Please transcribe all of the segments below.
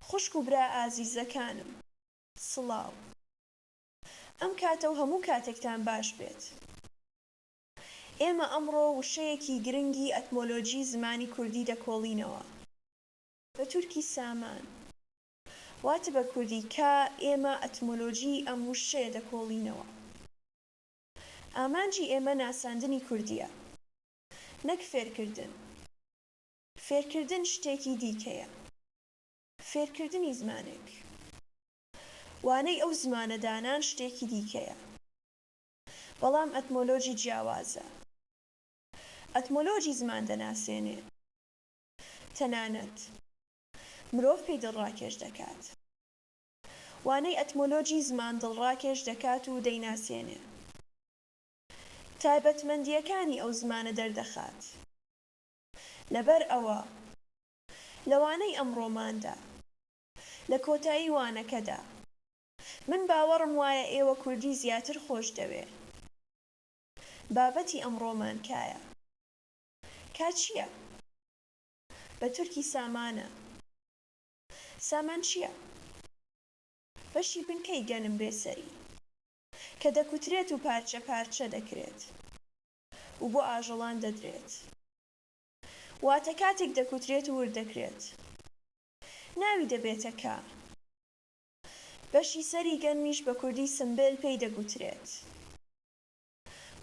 خوشک و برا ئازیزەکانم سڵاو ئەم کاتە و هەموو کاتێکتان باش بێت ئێمە ئەمڕۆ وشەیەکی گرنگی ئەتمۆلۆجی زمانی کوردی دەکۆڵینەوە بە تورکی سامان واتە بە کوردی کا ئێمە ئەتمۆلۆجی ئەم وشەیە دەکۆڵینەوە ئامانجی ئێمە ناساندنی کوردیە. نەک فێرکردن. فێرکردن شتێکی دیکەیە. فێرکردنی زمانێک، وانەی ئەو زمانە دانان شتێکی دیکەیە. بەڵام ئەتمۆلۆجی جیاوازە. ئەتمۆلۆجی زمان دەناسێنێ. تەنانەت مرۆڤ پێی دڵڕاکێش دەکات. وانەی ئەتمۆلۆجی زمان دڵڕاکێش دەکات و دەیناسێنێ. تایبەتمەندییەکانی ئەو زمانە دەردەخات. لەبەر ئەوە لە وانەی ئەمڕۆماندا، لە کۆتایی وانەکەدا، من باوەڕم وایە ئێوە کوردی زیاتر خۆش دەوێ. بابەتی ئەمڕۆمان کایە؟ کا چییە؟ بە تورکی سامانە. سامان چییە؟ بەشی بنکەی گەنم بێ سەری. کە دەکوترێت و پارچە پارچە دەکرێت و بۆ ئاژەڵان دەدرێت، واتە کاتێک دەکوترێت و ورد دەکرێت ناوی دەبێتە کە. بەشی سەری گەنمیش بە کوردی سمبل پێی دەگوترێت.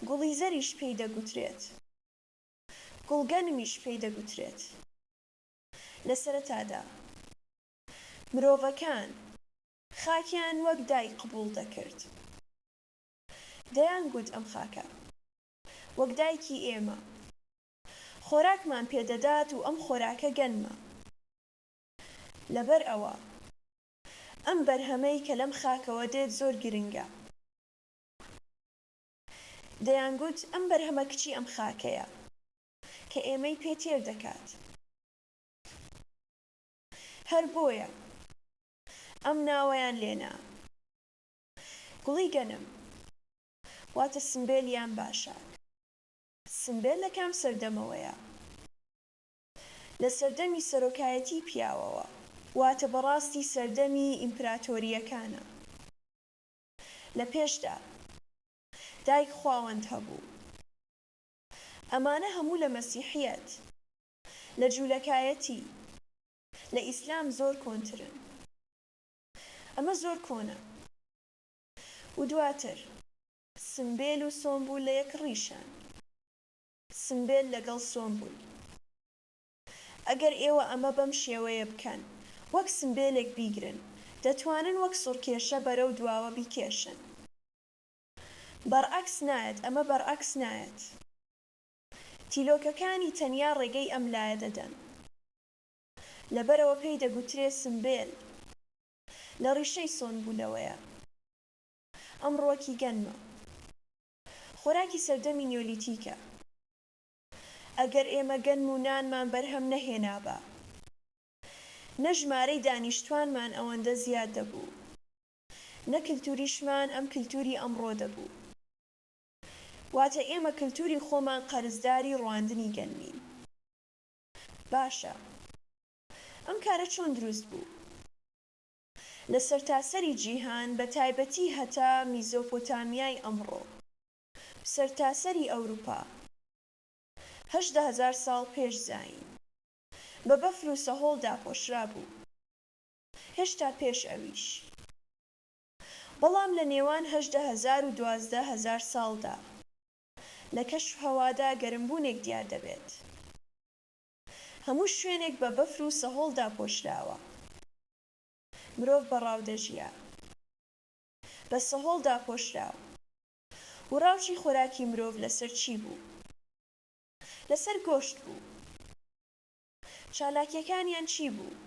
گوڵی زەریش پێی دەگوترێت. گوڵگەنمیش پێی دەگوترێت. لە سەرەتادا مرۆڤەکان. خاکیان وەک دایک قبووڵ دەکرد. دەیانگوت ئەم خاکە وەک دایکی ئێمە. خۆراکمان پێ دەدات و ئەم خۆراکە گەنمە. لەبەر ئەوە ئەم بەرهەمەی کە لەم خاکەوە دێت زۆر گرنگە. دەیانگوت ئەم بەرهەمە کچی ئەم خاکەیە کە ئێمەی پێ تێر دەکات. هەر بۆیە ئەم ناوەیان لێ نا. گوڵی گەنم واتە سمبێل یان باشاک. سمبێل لە کام سەردەمەوەیە؟ لە سەردەمی سەرۆکایەتیی پیاوەوە، واتە بەڕاستی سەردەمی ئیمپراتۆرییەکانە. لە پێشدا، دایک خواوەند هەبوو. ئەمانە هەموو لە مەسیحییەت، لە جوولەکایەتی، لە ئیسلام زۆر کۆنترن ئەمە زۆر کۆنە و دواتر. سمبێل و سۆمبول لە یەک ڕیشەن سمبێل لەگەڵ سۆمبول ئەگەر ئێوە ئەمە بەم شێوەیە بکەن وەک سمبێلێک بیگرن دەتوانن وەک سوڕکێشە بەرەو دواوە بیکێشن بەڕعەکس نایەت ئەمە بەڕعەکس نایەت تیلۆکەکانی تەنیا ڕێگەی ئەم لایە دەدەن لەبەرئەوە پێی دەگوترێ سمبێل. لە ڕیشەی سۆن بوونەوەیە. ئەم ڕووەکی گەنمە. خۆراکی سەردەمی نیۆلیتیکە. ئەگەر ئێمە گەنم و نانمان بەرهەم نەهێنابا، نە ژمارەی دانیشتوانمان ئەوەندە زیاد دەبوو، نە کلتوریشمان ئەم کلتوری ئەمڕۆ دەبوو. واتە ئێمە کلتوری خۆمان قەرزداری ڕواندنی گەنمین. باشە ئەم کارە چۆن دروست بوو؟ لە سەرتاسەری جیهان بە تایبەتی هەتا میزۆپۆتامیای ئەمڕۆ و سەرتاسەری ئەوروپا هەژدە هەزار ساڵ پێش زایین بە بەفر و سەهۆڵ داپۆشرابوو هێشتا پێش ئەویش بەڵام لە نێوان هەژدە هەزار و دوازدە هەزار ساڵدا لە کەشوهەوادا گەرمبوونێک دیار دەبێت. هەموو شوێنێک بە بەفر و سەهۆڵ داپۆشراوە. مرۆڤ بە ڕاو دەژیا. بە سەهۆڵ داپۆشراو. و ڕاوچی خۆراکی مرۆڤ لەسەر چی بوو؟ لەسەر گۆشت بوو. چالاکییەکانیان چی بوو؟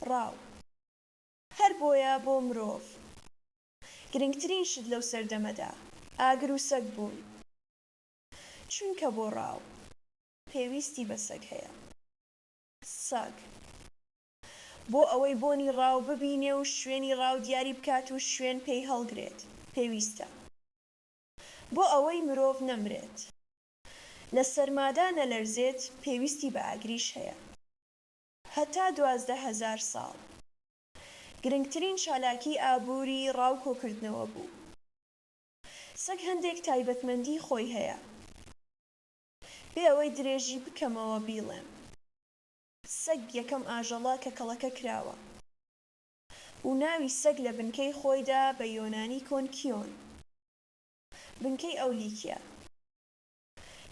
ڕاو. هەر بۆیە بۆ مرۆڤ گرنگترین شت لەو سەردەمەدا ئاگر و سەگ بوون، چونکە بۆ ڕاو پێویستی بە سەگ هەیە. سەگ بۆ ئەوەی بۆنی ڕاو ببینێ و شوێنی ڕاو دیاری بکات و شوێن پێی هەڵگرێت پێویستە. بۆ ئەوەی مرۆڤ نەمرێت، لە سەرمادا نەلەرزێت پێویستی بە ئاگریش هەیە. هەتا دوازدە هەزار ساڵ گرنگترین چالاکی ئابووری ڕاو کۆکردنەوە بوو. سەگ هەندێک تایبەتمەندی خۆی هەیە. بێ ئەوەی درێژی بکەمەوە بیڵێم. سەگ یەکەم ئاژەڵە کە کەڵەکە کراوە. و ناوی سەگ لە بنکەی خۆیدا بە یۆنانی کۆن کیۆن. بنکەی ئەو لیکە.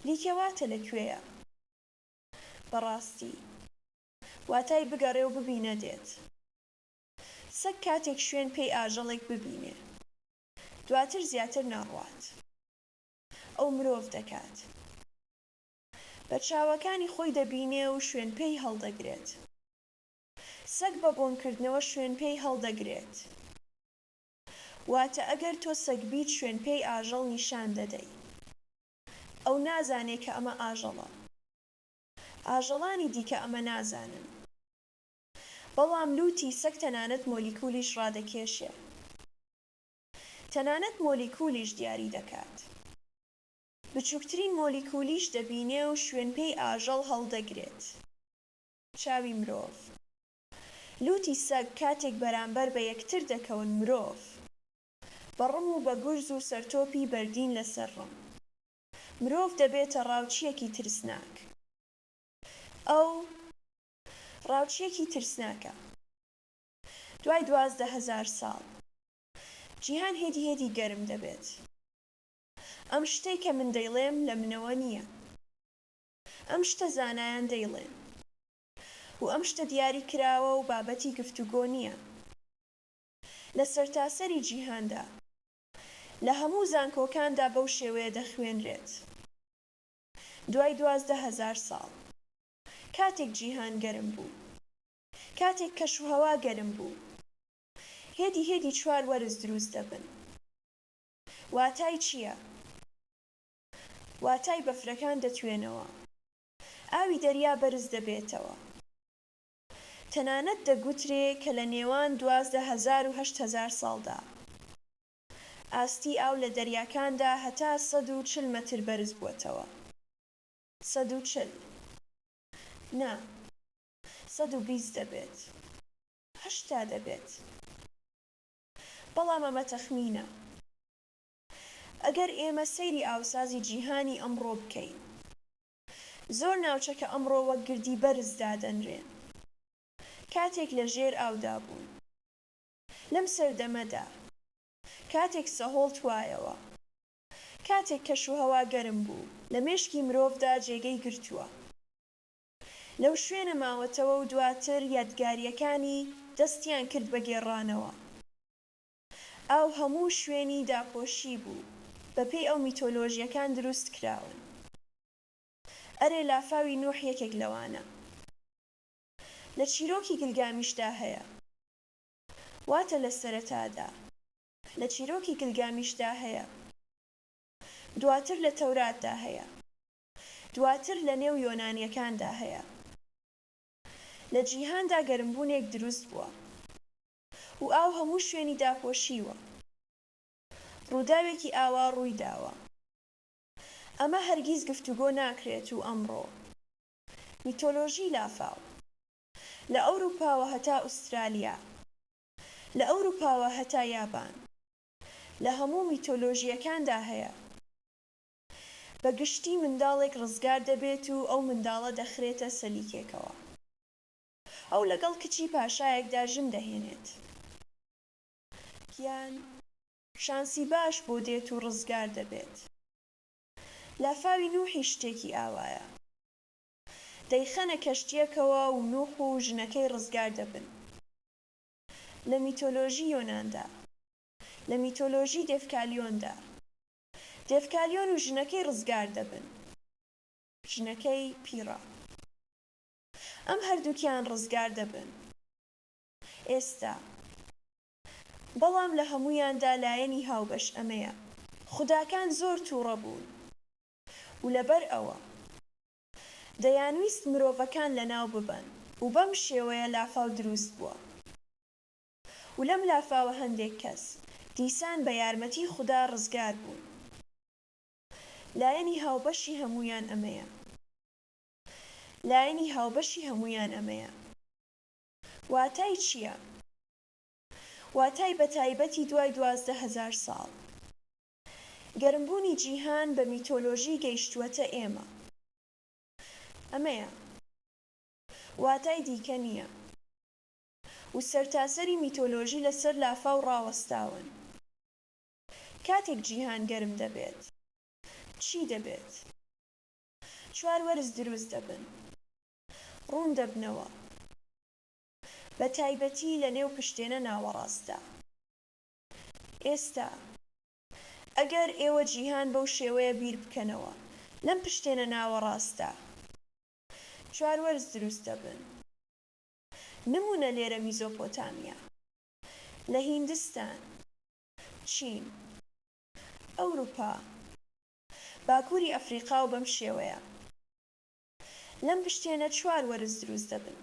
لیکە واتە لە کوێیە؟ بەڕاستی. واتای بگەڕێ و ببینە دێت. سەگ کاتێک شوێن پێی ئاژەڵێک ببینێ دواتر زیاتر نەڕوات ئەو مرۆڤ دەکات. بە چاوەکانی خۆی دەبینێ و شوێن پێی هەڵدەگرێت. سەگ بە بۆن کردنەوە شوێن پێی هەڵدەگرێت. واتە ئەگەر تۆ سەگ بیت شوێن پێی ئاژەڵ نیشان دەدەی. ئەو نازانێ کە ئەمە ئاژەڵە. ئاژەڵانی دیکە ئەمە نازانن، بەڵام لووتی سەگ تەنانەت مۆلیکولیش ڕادەکێشێ. تەنانەت مۆلیکولیش دیاری دەکات. بچووکترین مۆلیکولیش دەبینێ و شوێنپێی ئاژەڵ هەڵدەگرێت. چاوی مرۆڤ. لووتی سەگ کاتێک بەرانبەر بە یەکتر دەکەون مرۆڤ بە ڕم و بە گورز و سەرتۆپی بەردین لەسەر ڕم. مرۆڤ دەبێتە ڕاوچییەکی ترسناک. ئەو ڕاوچییەکی ترسناکە. دوای دوازدە هەزار ساڵ. جیهان هێدی هێدی گەرم دەبێت. ئەم شتەی کە من دەیڵێم لە منەوە نییە. ئەم شتە زانایان دەیڵێن. و ئەم شتە دیاری کراوە و بابەتی گفتوگۆ نییە. لە سەرتاسەری جیهاندا. لە هەموو زانکۆکاندا بەو شێوەیە دەخوێنرێت دوای دوازدە هەزار ساڵ کاتێک جیهان گەرم بوو کاتێک کەشوهەوا گەرم بوو هێدی هێدی چوار وەرز دروست دەبن واتای چیە واتای بەفرەکان دەتوێنەوە ئاوی دەریا بەرز دەبێتەوە تەنانەت دەگوترێ کە لە نێوان دوازدە هەزار و هەشت هەزار ساڵدا ئاستی ئاو لە دەریاکاندا هەتا سەد و چل مەتر بەرز بووەتەوە. سەد و چل نا، سەد و بیست دەبێت، هەشتا دەبێت، بەڵام ئەمە تەخمینە. ئەگەر ئێمە سەیری ئاوسازی جیهانی ئەمڕۆ بکەین، زۆر ناوچە کە ئەمڕۆ وەک گردی بەرز دادەنرێن، کاتێک لە ژێر ئاودا بوون. لەم سەردەمەدا، کاتێک سەهۆڵ توایەوە، کاتێک کەشوهەوا گەرم بوو، لە مێشکی مرۆڤدا جێگەی گرتووە، لەو شوێنە ماوەتەوە و دواتر یادگارییەکانی دەستیان کرد بە گێڕانەوە. ئاو هەموو شوێنی داپۆشی بوو بەپێی ئەو میتۆلۆژیەکان دروست کراون ئەرێ لافاوی نوح یەکێک لەوانە لە چیرۆکی گلگامیشدا هەیە واتە لە سەرەتادا لە چیرۆکی گلگامیشدا هەیە دواتر لە تەوراتدا هەیە دواتر لە نێو یۆنانیەکاندا هەیە لە جیهاندا گەرمبوونێک دروست بووە و ئاو هەموو شوێنی داپۆشیوە. ڕووداوێکی ئاوا ڕووی داوە. ئەمە هەرگیز گفتوگۆ ناکرێت و ئەمڕۆ، میتۆلۆژی لافاو، لە ئەوروپاوە هەتا ئوسترالیا، لە ئەوروپاوە هەتا یابان، لە هەموو میتۆلۆژییەکاندا هەیە. بە گشتی منداڵێک ڕزگار دەبێت و ئەو منداڵە دەخرێتە سەلیکێکەوە. ئەو لەگەڵ کچی پاشایەکدا ژن دەهێنێت یان شانسی باش بۆ دێت و ڕزگار دەبێت. لافاوی نوحیش شتێکی ئاوایە. دەیخەنە کەشتییەکەوە و نوح و ژنەکەی ڕزگار دەبن. لە میتۆلۆژی یۆناندا. لە میتۆلۆژی دێڤکالیۆندا. دێڤکالیۆن و ژنەکەی ڕزگار دەبن. ژنەکەی پیڕە. ئەم هەردووکیان ڕزگار دەبن ئێستا، بەڵام لە هەموویاندا لایەنی هاوبەش ئەمەیە، خوداکان زۆر تووڕە بوون و لەبەر ئەوە دەیانویست مرۆڤەکان لەناو ببەن و بەم شێوەیە لافاو دروست بووە و لەم لافاوە هەندێک کەس دیسان بە یارمەتی خودا ڕزگار بوون، لایەنی هاوبەشی هەموویان ئەمەیە. لایەنی هاوبەشی هەموویان ئەمەیە. واتای چییە؟ واتای بەتایبەتی دوای دوازدە هەزار ساڵ گەرمبوونی جیهان بە میتۆلۆژی گەیشتووەتە ئێمە. ئەمەیە. واتای دیکە نییە. و سەرتاسەری میتۆلۆژی لەسەر لافاو ڕاوەستاون. کاتێک جیهان گەرم دەبێت چی دەبێت؟ چوار وەرز دروست دەبن ڕوون دەبنەوە بە تایبەتی لە نێو پشتێنە ناوەڕاستدا ئێستا ئەگەر ئێوە جیهان بەو شێوەیە بیر بکەنەوە لەم پشتێنە ناوەڕاستدا چوار وەرز دروست دەبن نموونە لێرە میزۆپۆتامیا لە هیندستان چین ئەوروپا باکوری ئەفریقا و بەم شێوەیە لەم پشتێنە چوار وەرز دروست دەبن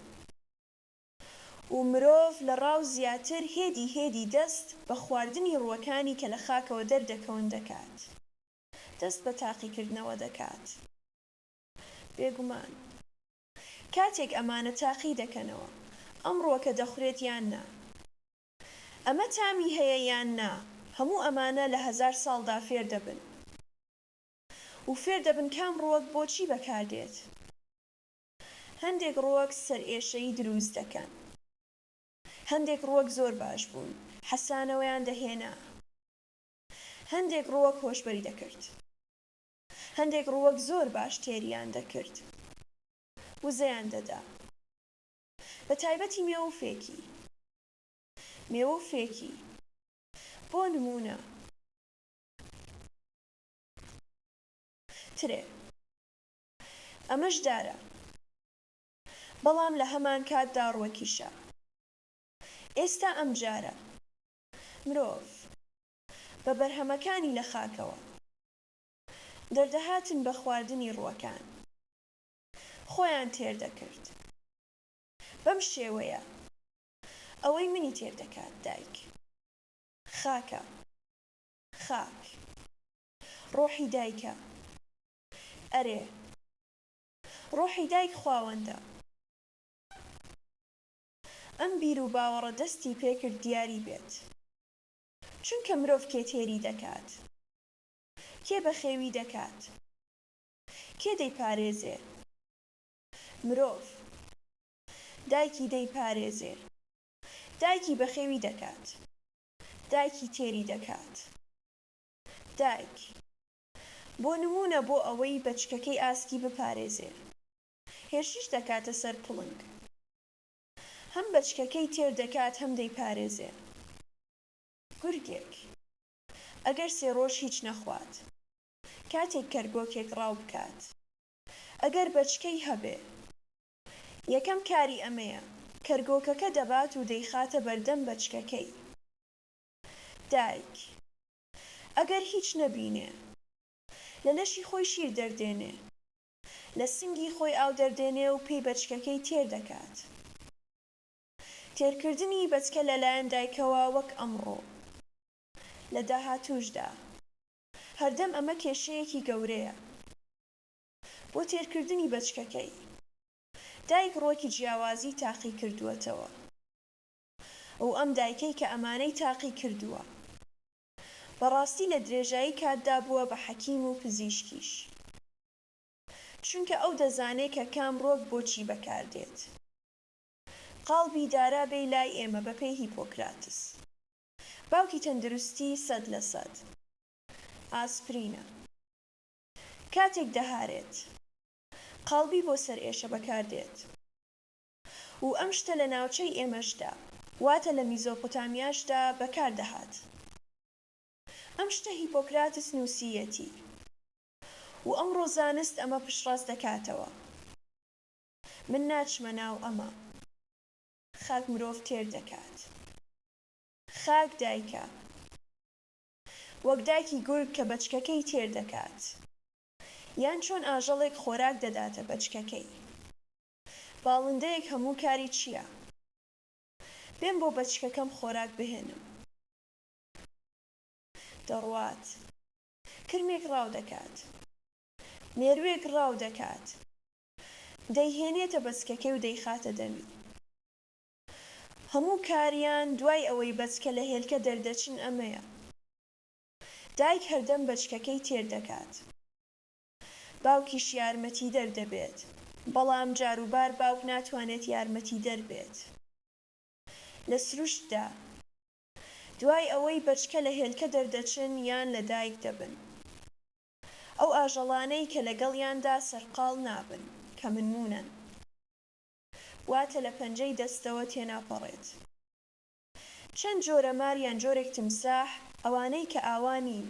و مرۆڤ لە ڕاو زیاتر هێدی هێدی دەست بە خواردنی ڕوەکانی کە لە خاکەوە دەردەکەون دەکات دەست بە تاقیکردنەوە دەکات بێگومان کاتێک ئەمانە تاقی دەکەنەوە ئەم ڕوەکە دەخورێت یان نا. ئەمە تامی هەیە یان نا هەموو ئەمانە لە هەزار ساڵدا فێر دەبن و فێر دەبن کام ڕووەک بۆچی بەکار دێت هەندێک ڕووەک سەرئێشەیی درووست دەکەن هەندێک ڕووەک زۆر باش بوون حەسانەوەیان دەهێنا هەندێک ڕووەک هۆشبەری دەکرد هەندێک ڕووەک زۆر باش تێریان دەکرد وزەیان دەدا. بە تایبەتی مێوە و فێکی. مێوە و فێکی، بۆ نموونە، ترێ. ئەمەش دارە، بەڵام لە هەمانکاتدا ڕوەکیشە. ئێستا ئەمجارە، مرۆڤ، بە بەرهەمەکانی لە خاکەوە دەردەهاتن بە خواردنی ڕوەکان. خۆیان تێر دەکرد بەم شێوەیە ئەوەی منی تێر دەکات دایک خاکە خاک ڕۆحی دایکە ئەرێ ڕۆحی دایک خواوەندە ئەم بیر و باوەڕە دەستی پێ کرد دیاری بێت چونکە مرۆڤ کێ تێری دەکات کێ بەخێوی دەکات کێ دەیپارێزێ مرۆڤ؟ دایکی دەیپارێزێ. دایکی بەخێوی دەکات. دایکی تێری دەکات. دایک، بۆ نموونە بۆ ئەوەی بەچکەکەی ئاسکی بپارێزێ، هێرشیش دەکاتە سەر پڵنگ. هەم بەچکەکەی تێر دەکات هەم دەیپارێزێ. گورگێک، ئەگەر سێ ڕۆژ هیچ نەخوات، کاتێک کەرگۆکێک ڕاو بکات ئەگەر بەچکەی هەبێ یەکەم کاری ئەمەیە کەرگۆکەکە دەبات و دەیخاتە بەردەم بەچکەکەی دایک ئەگەر هیچ نەبینێ لە لەشی خۆی شیر دەردێنێ لە سنگی خۆی ئاو دەردێنێ و پێی بەچکەکەی تێر دەکات تێرکردنی بەچکە لەلایەن دایکەوە وەک ئەمڕۆ لە داهاتووشدا. هەردەم ئەمە کێشەیەکی گەورەیە بۆ تێرکردنی بەچکەکەی. دایک ڕوەکی جیاوازی تاقی کردووەتەوە و ئەم دایکەی کە ئەمانەی تاقی کردووە بەڕاستی لە درێژایی کاتدا بووە بە حەکیم و پزیشکیش چونکە ئەو دەزانێ کە کام ڕوەک بۆ چی بەکار دێت. قاڵبی دارا بێی لای ئێمە بەپێی هیپۆکراتس. باوکی تەندروستی سەد لە سەد ئاسپرینە کاتێک دەهارێت قاڵبی بۆ سەر ئێشە بەکار دێت و ئەم شتە لە ناوچەی ئێمەشدا واتە لە میزۆپۆتامیاشدا بەکار دەهات ئەم شتە هیپۆکراتس نوسییەتی و ئەمڕۆ زانست ئەمە پشتڕاست دەکاتەوە من ناچمە ناو ئەمە. خاک مرۆڤ تێر دەکات. خاک دایکە. وەک دایکی گورگ کە بەچکەکەی تێر دەکات. یان چۆن ئاژەڵێک خۆراک دەداتە بەچکەکەی. باڵندەیەک هەموو کاری چییە؟ بێم بۆ بەچکەکەم خۆراک بهێنم. دەڕوات. کرمێک ڕاو دەکات. مێرووێک ڕاو دەکات. دەیهێنێتە بەچکەکەی و دەیخاتە دەمی هەموو کاریان دوای ئەوەی بەچکە لە هێلکە دەردەچن ئەمەیە دایک هەردەم بەچکەکەی تێر دەکات باوکیش یارمەتیدەر دەبێت بەڵام جاروبار باوک ناتوانێت یارمەتیدەر بێت لە سروشتدا دوای ئەوەی بەچکە لە هێلکە دەردەچن یان لە دایک دەبن ئەو ئاژەڵانەی کە لەگەڵیاندا سەرقاڵ نابن، کە منموونەن، واتە لە پەنجەی دەستەوە تێناپەڕێت. چەند جۆرە مار یان جۆرێک تمساح، ئەوانەی کە ئاوا نین.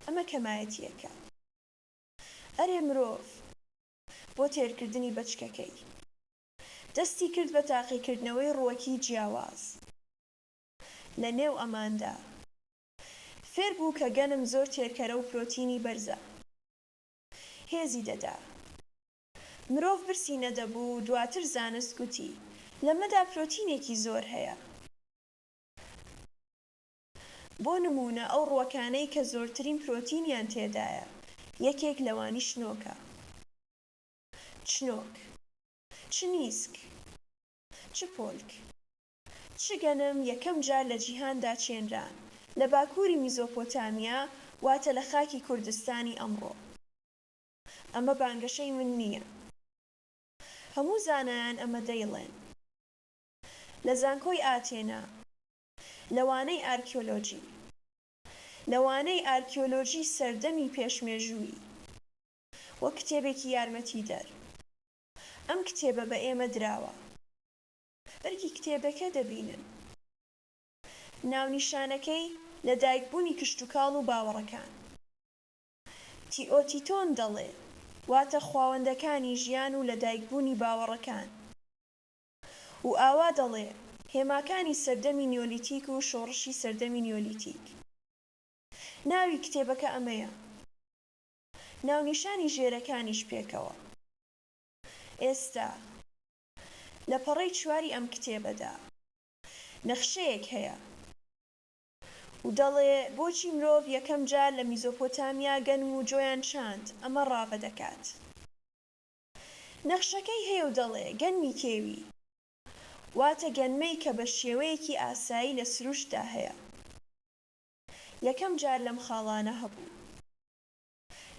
ئەمە کەمایەتییەکە. ئەرێ مرۆڤ، بۆ تێرکردنی بەچکەکەی، دەستی کرد بە تاقیکردنەوەی ڕووەکی جیاواز لە نێو ئەماندا. فێر بوو کە گەنم زۆر تێرکەرە و پرۆتینی بەرزە هێزی دەدا مرۆڤ برسی نەدەبوو و دواتر زانست گوتی لەمەدا پرۆتینێکی زۆر هەیە بۆ نموونە ئەو ڕووەکانەی کە زۆرترین پرۆتینیان تێدایە یەکێک لەوانی شنۆکە چنۆک چنیسک چپۆلک. چ گەنم یەکەم جار لە جیهاندا چێنرا؟ لە باکووری میزۆپۆتامیا، واتە لە خاکی کوردستانی ئەمڕۆ. ئەمە بانگەشەی من نییە. هەموو زانایان ئەمە دەیڵێن. لە زانکۆی ئاتێنا. لە وانەی ئارکیۆلۆجی. لە وانەی ئارکیۆلۆجی سەردەمی پێش مێژوویی. وەک کتێبێکی یارمەتیدەر. ئەم کتێبە بە ئێمە دراوە. بەرگی کتێبەکە دەبینن. ناونیشانەکەی لەدایکبوونی کشتوکاڵ و باوەڕەکان. تیۆتیتۆن دەڵێ، واتە خواوەندەکانی ژیان و لەدایکبوونی باوەڕەکان. و ئاوا دەڵێ، هێماکانی سەردەمی نیۆلیتیک و شۆڕشی سەردەمی نیۆلیتیک. ناوی کتێبەکە ئەمەیە. ناونیشانی ژێرەکانیش پێکەوە. ئێستا. لە پەڕەی چواری ئەم کتێبەدا نەخشەیەک هەیە و دەڵێ بۆچی مرۆڤ یەکەم جار لە میزۆپۆتامیا گەنم و جۆیان چاند، ئەمە ڕاڤە دەکات. نەخشەکەی هەیە و دەڵێ گەنمی کێوی واتە گەنمەی کە بە شێوەیەکی ئاسایی لە سروشتدا هەیە یەکەم جار لەم خاڵانە هەبوو.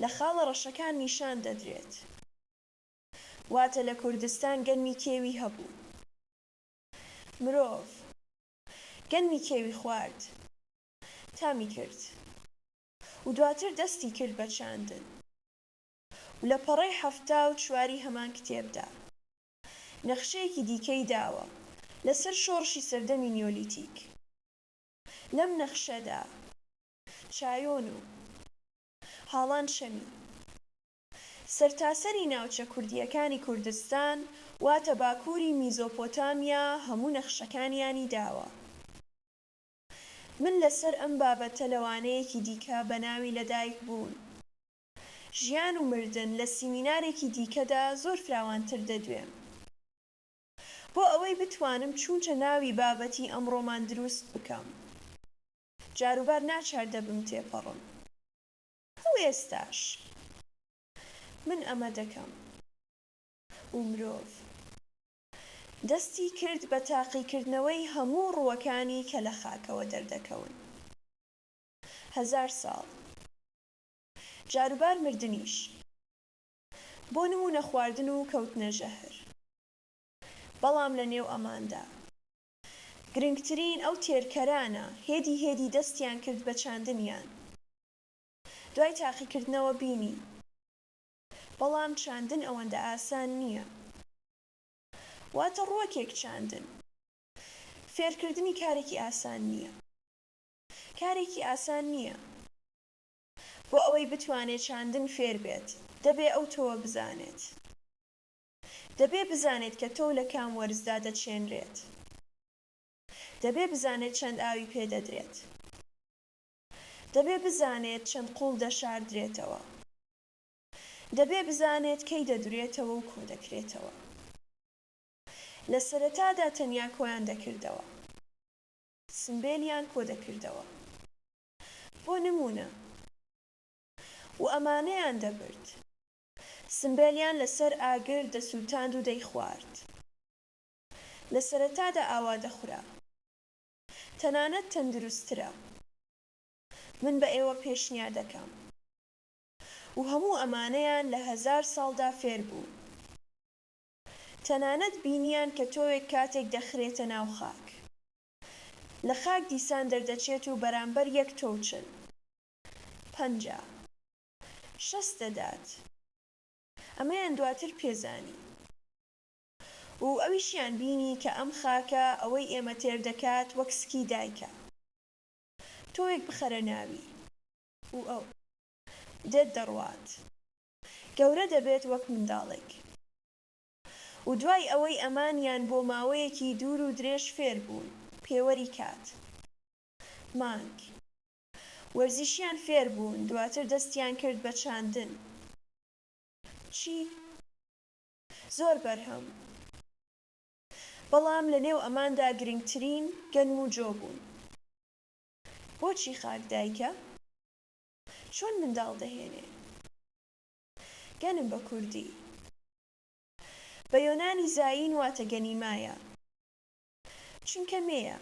لە خاڵە ڕەشەکان نیشان دەدرێت. واتە لە کوردستان گەنمی کێوی هەبوو مرۆڤ گەنمی کێوی خوارد تامی کرد و دواتر دەستی کرد بە چاندن و لە پەڕەی حەفتا و چواری هەمان کتێبدا نەخشەیەکی دیکەی داوە لەسەر شۆڕشی سەردەمی نیۆلیتیک لەم نەخشەدا چایۆن و هاڵان شەمی سەرتاسەری ناوچە کوردییەکانی کوردستان واتە باکووری میزۆپۆتامیا هەموو نەخشەکانیانی داوە. من لەسەر ئەم بابەتە لە وانەیەکی دیکە بە ناوی لەدایک بوون، ژیان و مردن لە سیمینارێکی دیکەدا زۆر فراوانتر دەدوێم. بۆ ئەوەی بتوانم چونچە ناوی بابەتی ئەمڕۆمان دروست بکەم، جاروبار ناچار دەبم تێپەڕم. ئەو ئێستاش من ئەمە دەکەم. و مرۆڤ دەستی کرد بە تاقیکردنەوەی هەموو ڕووەکانی کە لە خاکەوە دەردەکەون. هەزار ساڵ. جاروبار مردنیش. بۆ نموونە خواردن و کەوتنە ژەهر. بەڵام لە نێو ئەماندا. گرنگترین ئەو تێرکەرانە هێدی هێدی دەستیان کرد بە چاندنیان. دوای تاقیکردنەوە بینی بەڵام چاندن ئەوەندە ئاسان نییە واتە ڕووەکێک چاندن فێرکردنی کارێکی ئاسان نییە کارێکی ئاسان نییە بۆ ئەوەی بتوانێت چاندن فێر بێت دەبێ ئەو تۆوە بزانێت دەبێ بزانێت کە تۆو لە کام وەرزدا دەچێنرێت دەبێ بزانێت چەند ئاوی پێ دەدرێت. دەبێ بزانێت چەند قوڵ دەشاردرێتەوە. دەبێ بزانێت کەی دەدورێتەوە و کۆدەکرێتەوە. لە سەرەتادا تەنیا کۆیان دەکردەوە. سمبێلیان کۆدەکردەوە. بۆ نموونە. و ئەمانەیان دەبرد. سمبێلیان لەسەر ئاگر دەسووتاند و دەیخوارد. لە سەرەتادا ئاوا دەخورا. تەنانەت تەندروستترە من بە ئێوە پێشنیا دەکەم و هەموو ئەمانەیان لە هەزار ساڵدا فێر بوون تەنانەت بینیان کە تۆوێک کاتێک دەخرێتە ناو خاک لە خاک دیسان دەردەچێت و بەرامبەر یەک تۆو چل پەنجا شەست دەدات ئەمەیان دواتر پێزانی. و ئەویشیان بینی کە ئەم خاکە ئەوەی ئێمە تێر دەکات وەک سکی دایکە تۆوێک بخەرە ناوی و ئەو دێت دەڕوات گەورە دەبێت وەک منداڵێک و دوای ئەوەی ئەمانیان بۆ ماوەیەکی دوور و درێژ فێر بوون پێوەری کات مانگ وەرزیشیان فێر بوون دواتر دەستیان کرد بە چاندن چی زۆر بەرهەم بەڵام لە نێو ئەماندا گرنگترین گەنم و جۆ بوون. بۆچی خاک دایکە؟ چۆن منداڵ دەهێنێ؟ گەنم بە کوردی. بە یۆنانی زایین واتە گەنیمایە. چونکە مێیە.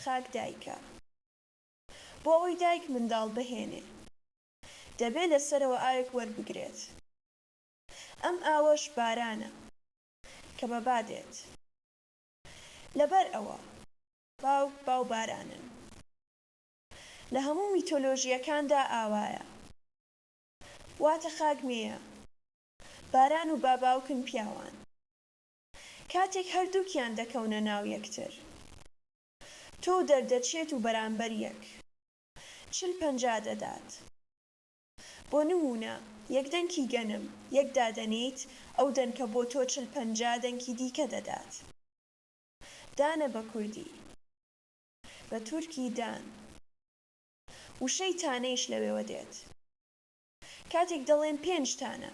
خاک دایکە. بۆ ئەوەی دایک منداڵ بهێنێ. دەبێ لە سەرەوە ئاوێک وەربگرێت. ئەم ئاوەش بارانە کە بە با دێت. لەبەر ئەوە باوک باو بارانن. لە هەموو میتۆلۆژییەکاندا ئاوایە. واتە خاک مێیە. باران و با باوکن پیاوان. کاتێک هەردووکیان دەکەونە ناو یەکتر. تۆو دەردەچێت و بەرامبەر یەک. چل پەنجا دەدات. بۆ نموونە یەک دەنکی گەنم یەک دادەنێیت، ئەو دەنکە بۆ تۆ چل پەنجا دەنکی دیکە دەدات. دانە بە کوردی. بە تورکی دان. وشەی تانەیش لەوێوە دێت. کاتێک دەڵێن پێنج تانە.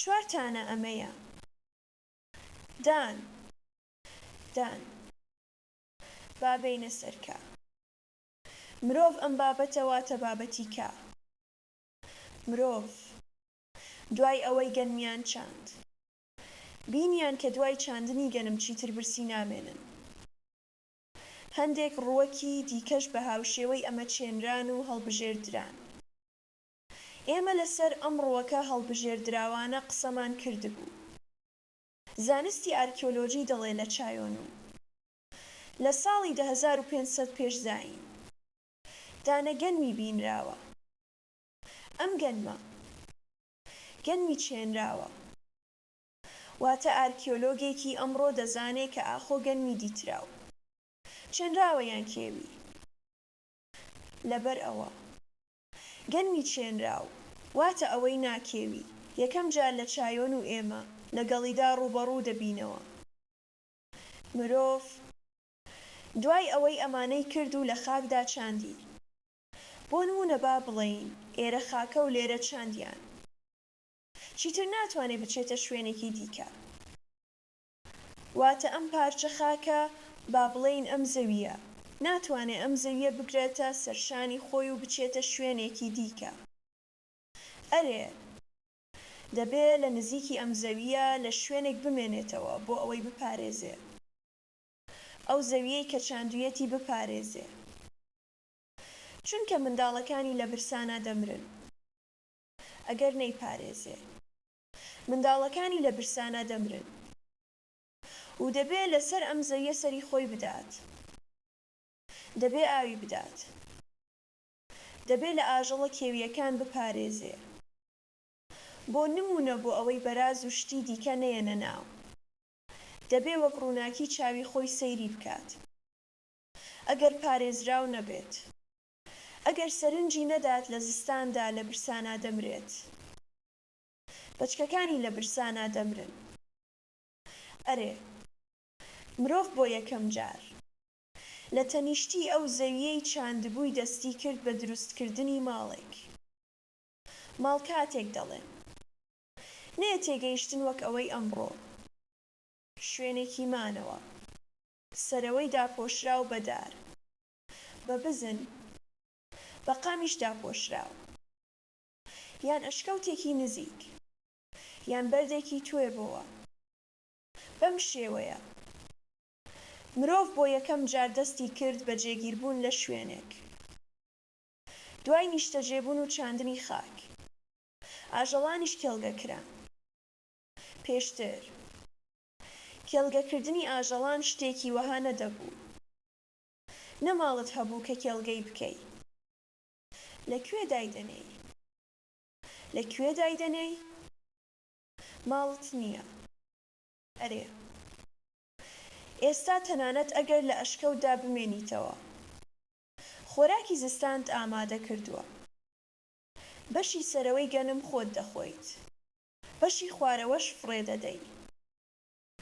چوار تانە ئەمەیە. دان. دان. با بێینە سەر کە. مرۆڤ ئەم بابەتە واتە بابەتی کە. مرۆڤ دوای ئەوەی گەنمیان چاند. بینیان کە دوای چاندنی گەنم چیتر برسی نامێنن. هەندێک ڕووەکی دیکەش بە هاوشێوەی ئەمە چێنران و هەڵبژێردران. ئێمە لە سەر ئەم ڕووەکە هەڵبژێردراوانە قسەمان کردبوو. زانستی ئارکیۆلۆجی دەڵێ لە چایۆن و. لە ساڵی دە هەزار و پێنج سەد پێش زایین دا نە گەنمی بینراوە ئەم گەنمە گەنمی چێنراوە واتە ئارکیۆلۆگێکی ئەمڕۆ دەزانێ کە ئاخۆ گەنمی دیتراو چێنراوە یان کێوی لەبەر ئەوە گەنمی چێنراو واتە ئەوەی نا کێوی یەکەم جار لە چایۆن و ئێمە لە گەڵیدا ڕووبەڕوو دەبینەوە. مرۆڤ دوای ئەوەی ئەمانەی کرد و لە خاکدا چاندی، بۆ نموونە با بڵێین ئێرە خاکە و لێرە چاندیان، چیتر ناتوانێت بچێتە شوێنێکی دیکە. واتە ئەم پارچە خاکە، با بڵێین ئەم زەوییە، ناتوانێت ئەم زەوییە بگرێتە سەرشانی خۆی و بچێتە شوێنێکی دیکە. ئەرێ! دەبێ لە نزیکی ئەم زەوییە لە شوێنێک بمێنێتەوە بۆ ئەوەی بپارێزێ ئەو زەوییەی کە چاندوویەتی بپارێزێ چونکە منداڵەکانی لە برسانا دەمرن ئەگەر نەیپارێزێ منداڵەکانی لە برسانا دەمرن و دەبێ لە سەر ئەم زەوییە سەری خۆی بدات دەبێ ئاوی بدات. دەبێ لە ئاژەڵە کێوییەکان بپارێزێ بۆ نموونە بۆ ئەوەی بەراز و شتی دیکە نەیەنە ناو دەبێ وەک ڕووناکی چاوی خۆی سەیری بکات ئەگەر پارێزراو نەبێت ئەگەر سەرنجی نەدات لە زستاندا لە برسانا دەمرێت بەچکەکانی لە برسانا دەمرن ئەرێ مرۆڤ بۆ یەکەم جار. لە تەنیشتی ئەو زەوییەی چاندبووی دەستی کرد بە دروستکردنی ماڵێک. ماڵ کاتێک دەڵێم. نەیە تێگەیشتن وەک ئەوەی ئەمڕۆ. شوێنێکی مانەوە. سەرەوەی داپۆشراو بە دار. بە بزن. بە قامیش داپۆشراو. یان ئەشکەوتێکی نزیک. یان بەردێکی توێ بۆوە. بەم شێوەیە. مرۆڤ بۆ یەکەم جار دەستی کرد بە جێگیربوون لە شوێنێک دوای نیشتەجێبوون و چاندنی خاک، ئاژەڵانیش کێڵگە کران. پێشتر کێڵگەکردنی ئاژەڵان شتێکی وەها نەدەبوو. نە ماڵت هەبوو کە کێڵگەی بکەی. لە کوێ دایدەنێی؟ لە کوێ دایدەنێی؟ ماڵت نییە. ئەرێ ئێستا تەنانەت ئەگەر لە ئەشکەوتدا بمێنیتەوە خۆراکی زستانت ئامادە کردووە. بەشی سەرەوەی گەنم خۆت دەخۆیت. بەشی خوارەوەش فڕێ دەدەی.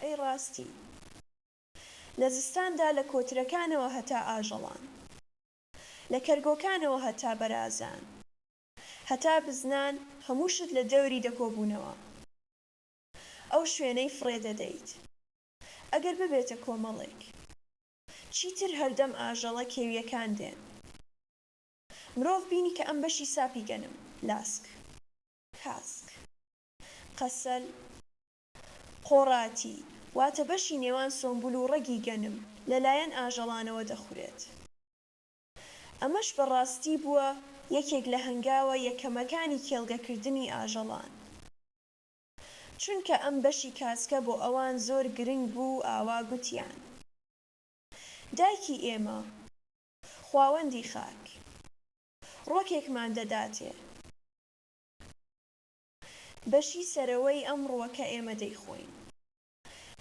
ئەی ڕاستی. لە زستاندا لە کۆترەکانەوە هەتا ئاژەڵان. لە کەرگۆکانەوە هەتا بەرازان. هەتا بزنان هەموو شت لە دەوری دەکۆبوونەوە. ئەو شوێنەی فڕێ دەدەیت ئەگەر ببێتە کۆمەڵێک چیتر هەردەم ئاژەڵە کێویەکان دێن مرۆڤ بینی کە ئەم بەشی ساپی گەنم لاسک کاسک قەسەل قۆڕاتی واتە بەشی نێوان سۆمبول و ڕەگی گەنم لەلایەن ئاژەڵانەوە دەخورێت ئەمەش بەڕاستی بووە یەکێک لە هەنگاوە یەکەمەکانی کێڵگەکردنی ئاژەڵان. چونکە ئەم بەشی کاسکە بۆ ئەوان زۆر گرنگ بوو و ئاوا گوتیان. دایکی ئێمە، خواوەندی خاک، ڕوەکێکمان دەداتێ. بەشی سەرەوەی ئەم ڕوەکە ئێمە دەیخۆین.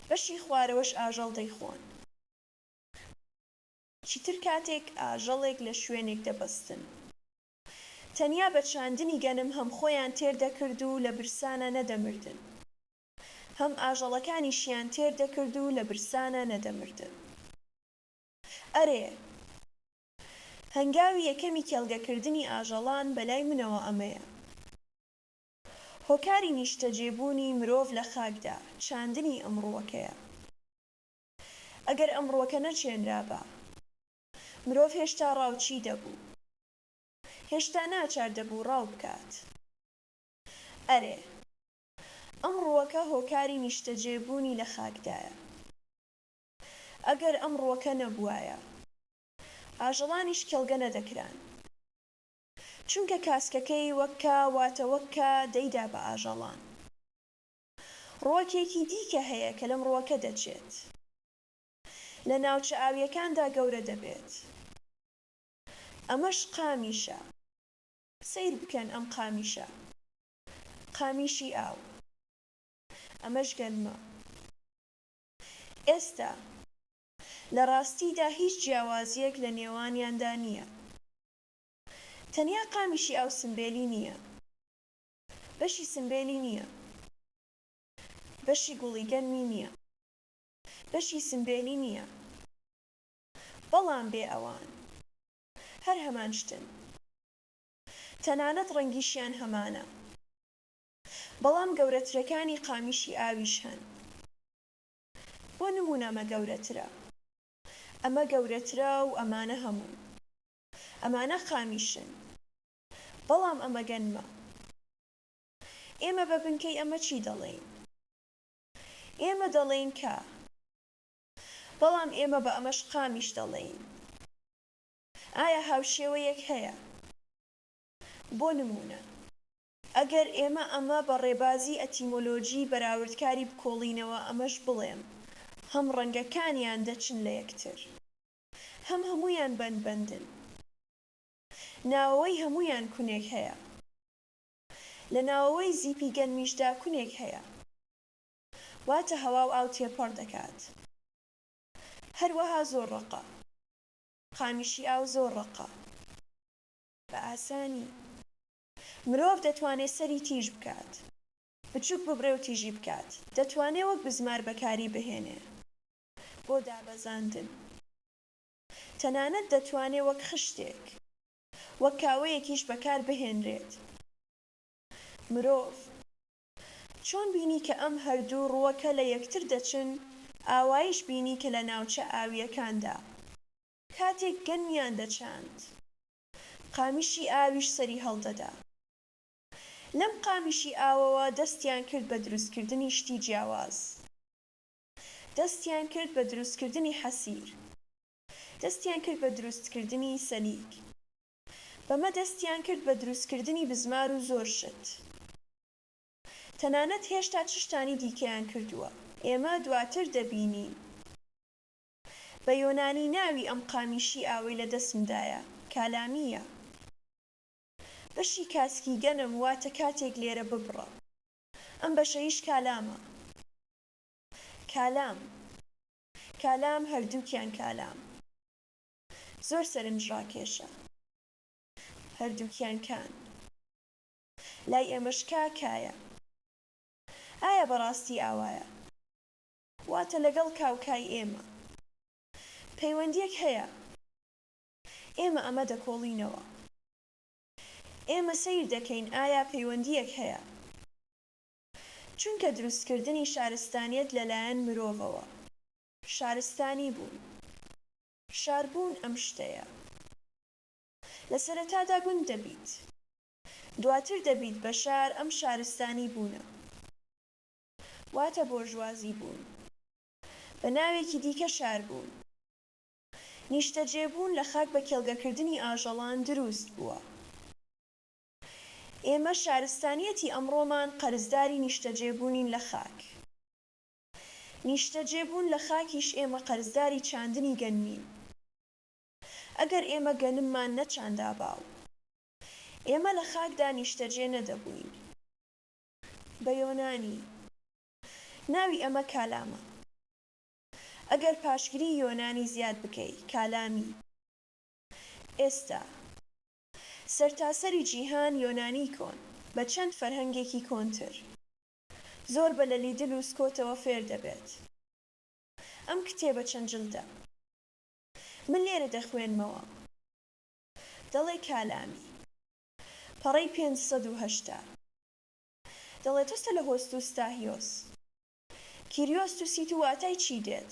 بەشی خوارەوەش ئاژەڵ دەیخۆن. چیتر کاتێک ئاژەڵێک لە شوێنێک دەبەستن. تەنیا بە چاندنی گەنم هەم خۆیان تێر دەکرد و لە برسانە نەدەمردن، هەم ئاژەڵەکانیشیان تێر دەکرد و لە برسانە نەدەمردن. ئەرێ! هەنگاوی یەکەمی کێڵگەکردنی ئاژەڵان بە لای منەوە ئەمەیە. هۆکاری نیشتەجێبوونی مرۆڤ لە خاکدا، چاندنی ئەم ڕووەکەیە. ئەگەر ئەم ڕووەکە نەچێنرابا. مرۆڤ هێشتا ڕاوچی دەبوو. هێشتا ناچار دەبوو ڕاو بکات. ئەرێ! ئەم ڕووەکە هۆکاری نیشتەجێ بوونی لە خاکدایە. ئەگەر ئەم ڕووەکە نەبووایە. ئاژەڵانیش کێڵگە نەدەکران. چونکە کاسکەکەی وەک کا واتە وەک کا دەیدا بە ئاژەڵان. ڕووەکێکی دیکە هەیە کە لەم ڕووەکە دەچێت. لە ناوچە ئاوییەکاندا گەورە دەبێت. ئەمەش قامیشە. سەیر بکەن ئەم قامیشە. قامیشی ئاو. ئەمەش گەنمە. ئێستا، لە ڕاستیدا هیچ جیاوازییەک لە نێوانیاندا نییە. تەنیا قامیشی ئاو سمبێلی نییە. بەشی سمبێلی نییە. بەشی گوڵی گەنمی نییە. بەشی سمبێلی نیە بەڵام بێ ئەوان هەر هەمان شتن تەنانەت ڕەنگیشیان هەمانە بەڵام گەورەترەکانی قامیشی ئاویش هەن بۆ نمونە ئەمە گەورەترە ئەمە گەورەترە و ئەمانە هەموو ئەمانە قامیشن بەڵام ئەمە گەنمە ئێمە بە بنکەی ئەمە چی دەڵێین؟ ئێمە دەڵێین کە. بەڵام ئێمە بە ئەمەش قامیش دەڵێین. ئایا هاوشێوەیەک هەیە؟ بۆ نموونە. ئەگەر ئێمە ئەمە بە ڕێبازی ئەتیمۆلۆژیی بەراوردکاری بکۆڵینەوە ئەمەش بڵێم، هەم ڕەنگەکانیان دەچن لە یەکتر. هەم هەموویان بەندبەندن. ناوەوەی هەموویان کونێک هەیە. لە ناوەوەی زیپی گەنمیشدا کونێک هەیە واتە هەوا و ئاو تێپەڕ دەکات هەروەها زۆر ڕەقە قامیشی ئاو زۆر ڕەقە بە ئاسانی مرۆڤ دەتوانێ سەری تیژ بکات بچوک ببرێ و تیژی بکات دەتوانێ وەک بزمار بەکاری بهێنێ بۆ دابەزاندن تەنانەت دەتوانێ وەک خشتێک وەک کاوەیەکیش بەکار بهێنرێت. مرۆڤ چۆن بینی کە ئەم هەردوو ڕووەکە لە یەکتر دەچن، ئاوایش بینی کە لە ناوچە ئاوییەکاندا، کاتێک گەنمیان دەچاند، قامیشی ئاویش سەری هەڵدەدا. لەم قامیشی ئاوەوە دەستیان کرد بە دروستکردنی شتی جیاواز. دەستیان کرد بە دروستکردنی حەسیر. دەستیان کرد بە دروستکردنی سەلیک. بەمە دەستیان کرد بە دروستکردنی بزمار و زۆر شت. تەنانەت هێشتا چ شتانی دیکەیان کردووە، ئێمە دواتر دەبینین. بە یۆنانی ناوی ئەم قامیشی ئاوەی لە دەستمدایە، کالامییە. بەشی کاسکی گەنم واتە کاتێک لێرە ببڕە. ئەم بەشەیش کالامە. کالام. کالام هەردووکیان کالام زۆر سەرنجڕاکێشە هەردووکیان کان لای ئێمەش کا کایە ئایا بەڕاستی ئاوایە واتە لەگەڵ کا و کای ئێمە پەیوەندیەک هەیە ئێمە ئەمە دەکۆڵینەوە ئێمە سەیر دەکەین ئایا پەیوەندیەک هەیە چونکە دروستکردنی شارستانیەت لەلایەن مرۆڤەوە شارستانی بوون شاربوون ئەم شتەیە لە سەرەتادا گوند دەبیت دواتر دەبیت بە شار ئەم شارستانی بوونە واتە بۆرژوازی بوون بە ناوێکی دیکە شاربوون نیشتەجێبوون لە خاک بە کێڵگەکردنی ئاژەڵان دروست بووە. ئێمە شارستانیەتی ئەمڕۆمان قەرزداری نیشتەجێبوونین لە خاک. نیشتەجێبوون لە خاکیش ئێمە قەرزداری چاندنی گەنمین. ئەگەر ئێمە گەنممان نەچاندابا و ئێمە لە خاکدا نیشتەجێ نەدەبووین. بە یۆنانی. ناوی ئەمە کالامە. ئەگەر پاشگری یۆنانی زیاد بکەی، کالامی. ئێستا. سەرتاسەری جیهان یۆنانی کۆن بە چەند فەرهەنگێکی کۆنتر زۆر بە لە لیدل و سکۆتەوە فێر دەبێت. ئەم کتێبە چەند جلدە؟ من لێرە دەخوێنمەوە. دەڵێ کالامی. پەڕەی پێنج سەد و هەشتا. دەڵێ تۆسە لە هۆستوستاهیۆس. کیریۆستوسیت و واتای چی دێت؟